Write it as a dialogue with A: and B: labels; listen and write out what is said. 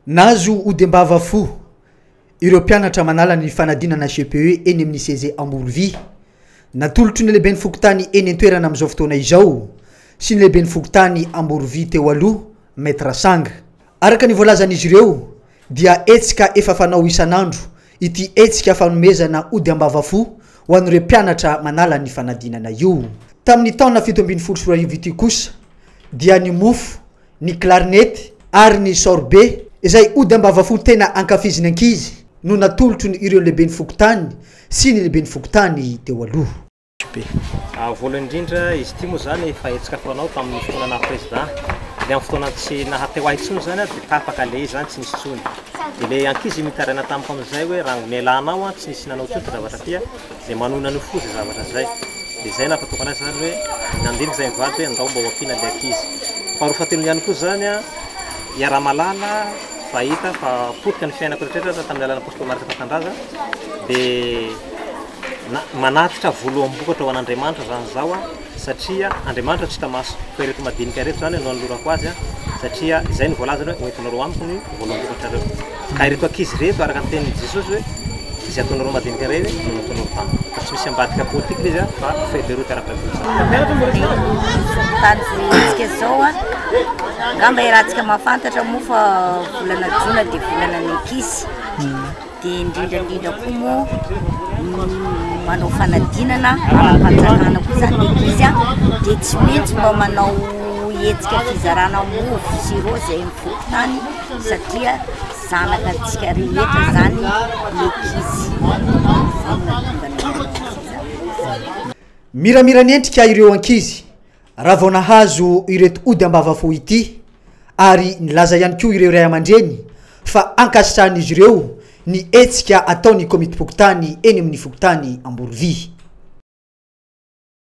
A: Nahazo odem-bava fo ireo mpianatra manala ny fanadinana CPE eny amin'ny CEG Amborovia. Natolotry ny lehiben'ny fokontany eny an-toerana amin'izao fotoana izao sy ny lehiben'ny fokontany Amborovia teo aloha, Maître Sanga. Araka ny voalazan'izy ireo dia hetsika efa fanao isan'andro ity hetsika fanomezana ody am-bava fo ho an'ireo mpianatra manala ny fanadinana io. Tamin'ny taona fito ambin'ny folo sy roa arivo ity kosa dia ny mofo ny klarinety ary ny saoribe izay ody ambavafo tena ankafizin'ny ankizy no natolotro ny ireo lehiben'ny fokontany sy ny lehiben'ny fokontany teo aloha.
B: Voalohany indrindra, izy ity moa izany efa hetsika fanao tamin'ny fotoana naha président, dia amin'ny fotoana tsy naha teo ahy intsony izany dia tapaka ilay izy izany tsy nisy intsony, dia ilay ankizy mitaraina tamiko amin'izay hoe raha nialana ao an tsy nisy nanao intsony fa zavatra aty an, Izay manohina an'io foza zavatra izay, dia izay nahatotokana azy izany hoe nandinika izay mivady hoe andao mba ho ampiana ilay ankizy. Faharoa fahatelony ihany koa izany, iaraha-mahalala fa hita fa potika ny fiainako rehetrarehetra tamin'ny alalan'ny Apostoly Marc Tantandraza, dia manatitra voloam-bokatra ho an'Andriamanitra izany izaho. satria Andriamanitra tsy hita maso, fa ireto madinika ireto izany no anolorako azy, satria izay no voalazany hoe, hoentinareo amiko ny voaloham-bokatrareo. Ka ireto ankizy ireto, araka ny tenin'i Jesosy hoe, izay ataonareo madinika iray ve no nataonareo tamiko. Ka tsy misy ambadika politique ilay izy an, fa fait de route
C: ara-biologie. dia indrindra indrindra koa moa ny manao fanadinana ara-panjakana koa izany ny ankizy an, dia tsy maintsy mba manao hetsika fizarana mofo sirô izay amin'ny fokontany satria zanakatsika rehetra izany ny ankizy, izay no mahatonga ny ankizy izany.
A: Miramirany endrika ireo ankizy. Raha vao nahazo ireto ody ambavafo ity ary nilaza ihany koa ireo ray aman-dreny fa ankasitrahan'izy ireo ny hetsika ataon'ny Komitim-pokontany eny amin'ny fokontany Amborovia.